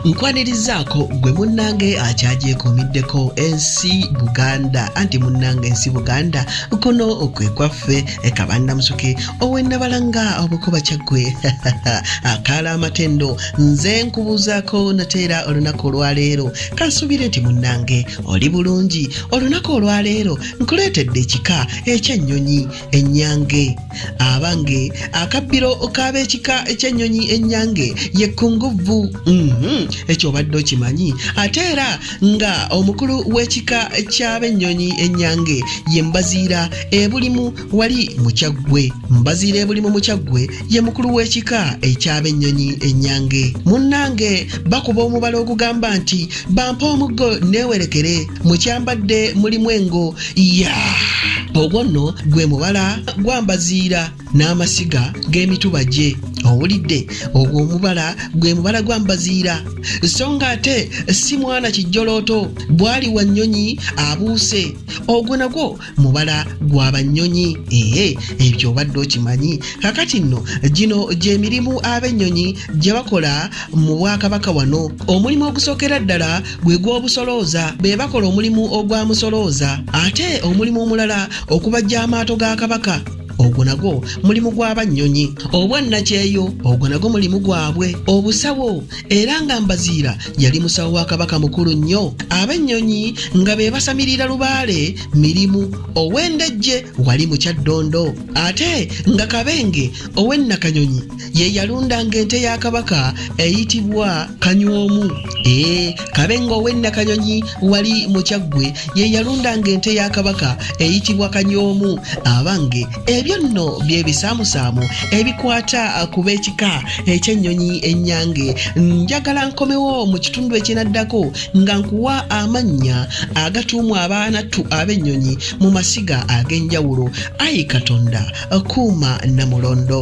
nkwanirizaako gwe munnange akyagyekomiddeko ensi buganda anti munnange ensi buganda kuno kwe kwaffe kabannamusuke owenabalanga obukuba kyaggwe akaala amatendo nze nkubuuzaako nateera olunaku olwaleero kansuubire nti munnange oli bulungi olunaku olwaleero nkuleetedde ekika ekyennyonyi ennyange abange akabbiro k'ab'ekika eky'ennyonyi ennyange ye kunguvvu mhm, ekyo obadde okimanyi ate era nga omukulu w'ekika ky'ab'ennyonyi ennyange ye mbaziira ebulimu wali mukyaggwe mbaziira ebulimu mukyaggwe ye mukulu w'ekika eky'ab'ennyonyi ennyange munnange bakuba omubala ogugamba nti bampa omuggo neewerekere mukyambadde mulimu engo ya ogwo nno gwe mubala gwambaziira n'amasiga g'emituba gye owulidde ogwo omubala gwe mubala gwa mbaziira so nga ate si mwana kijjolooto bwali wa nnyonyi abuuse ogwo nagwo mubala gwa bannyonyi ee ebyo obadde okimanyi kakati nno gino gy'emirimu ab'ennyonyi gye bakola mu bwakabaka wano omulimu ogusookera ddala gwe gw'obusolooza be bakola omulimu ogwa musolooza ate omulimu omulala okubajja amaato ga kabaka ogwo nagwo mulimu gw'abannyonyi obwannakyeyo ogwo nagwo mulimu gwabwe obusawo era nga mbaziira yali musawo wa kabaka mukulu nnyo ab'ennyonyi nga be basamirira lubaale mirimu ow'endejje wali mu kyaddondo ate nga kabenge ow'ennakanyonyi ye yalundanga ente ya kabaka eyitibwa kanywomu ee kabenge ow'ennakanyonyi wali mu kyaggwe ye yalundanga ente ya kabaka eyitibwa kanywomu abange ebyo nno byebisaamusaamu ebikwata ku b'ekika ekyennyonyi ennyange njagala nkomewo mu kitundu ekinaddako nga nkuwa amannya agatuumwa abaanattu ab'ennyonyi mu masiga ag'enjawulo ayi katonda kuuma namulondo